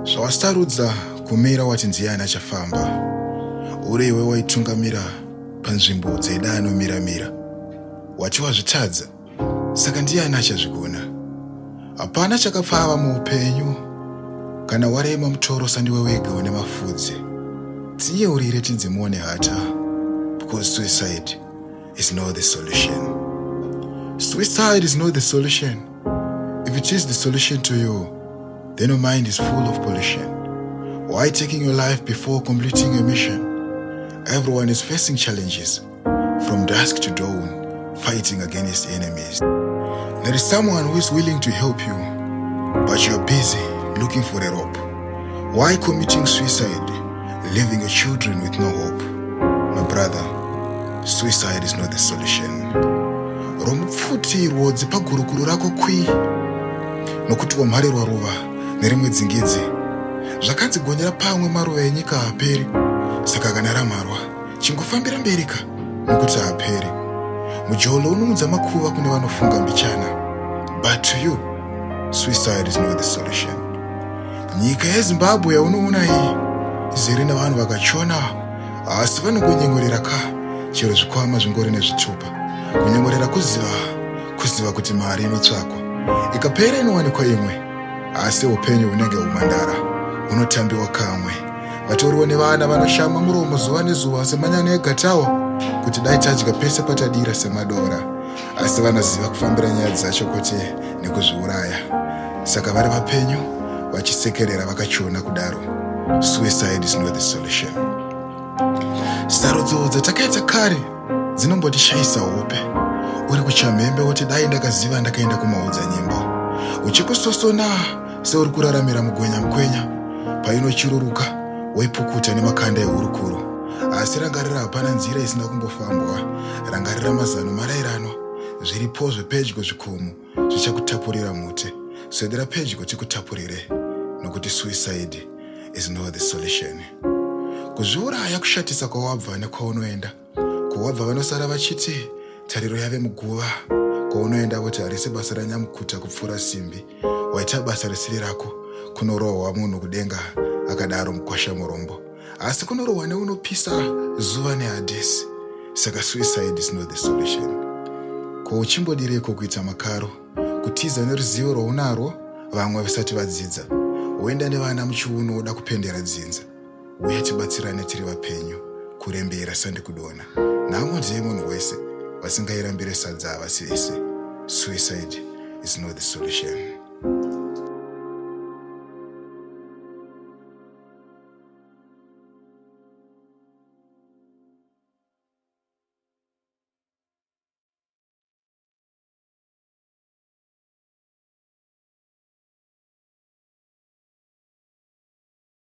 zvawasarudza kumira wati ndiye ani achafamba uri iwe waitungamira panzvimbo dzeida anomira mira wati wazvitadza Saka ndiani achazvigona? Hapana chakapfava muupenyu. Kana warema mutoro sandiwe wega une mafudze. Tiye urire tinzi muone hata because suicide is not the solution. Suicide is not the solution. If it is the solution to you, then your mind is full of pollution. Why taking your life before completing your mission? Everyone is facing challenges. From dusk to dawn, fighting against enemies. There is someone who is willing to help you, but you're busy looking for a rope. Why committing suicide, leaving your children with no hope? My brother, suicide is not the solution. romupfutirwo dzipa gurukuru rako kwi nokuti wamharirwa ruva nerimwe dzingidzi zvakanzi gonyera pamwe maruva enyika haperi saka kana ramharwa chingofambira mberi ka nokuti haaperi mujolo unomudza makuva kune vanofunga mbichana but to you suicide is not the solution nyika yezimbabwe yaunoona iyi izere nevanhu vakachona asi vanongonyengorera ka chero zvikwama zvingori nezvitupa kunyengorera kuziva kuziva kuti mari inotsvakwa ikapera inowanikwa imwe asi upenyu hunenge humandara hunotambiwa kamwe vatoriwo nevana vanoshama muromo zuva nezuva semanyana egatawa kuti dai tadya pese patadira semadora asi vanoziva kufambira nyaya dzacho kuti nekuzviuraya saka vari vapenyu vachisekerera vakachiona kudaro suicide is not the solution sarudzo dzatakaita kare dzinombotishayisa hope uri kuchamhembe woti dai ndakaziva ndakaenda kumaudza nyimbo uchikusosona seuri kuraramira mugwenya mukwenya painochururuka woipukuta nemakanda ehurukuro asi rangarira hapana nzira isina kumbofambwa rangarira mazano marairano zviripo zvepedyo zvikomo zvichakutapurira mute swedera pedyo tikutapurire nokuti suicide is not the solution kuzviuraya kushatisa kwawabva nekwaunoenda ko wabva vanosara vachiti tariro yave muguva ko unoenda kuti harisi basa ranyamukuta kupfuura simbi waita basa risiri rako kunorohwa munhu kudenga akadaro mukwasha murombo asi kunorohwa neunopisa zuva nehadhesi saka suicide is not the solution ko uchimbodireiko kuita makaro kutiza neruzivo rwaunarwo vamwe vasati vadzidza woenda nevana muchiuno woda kupendera dzinza uya tibatsirane tiri vapenyu kurembera sandikudona nhamo ndiye munhu wese vasingairambire sadza havasi vese suicide is not the solution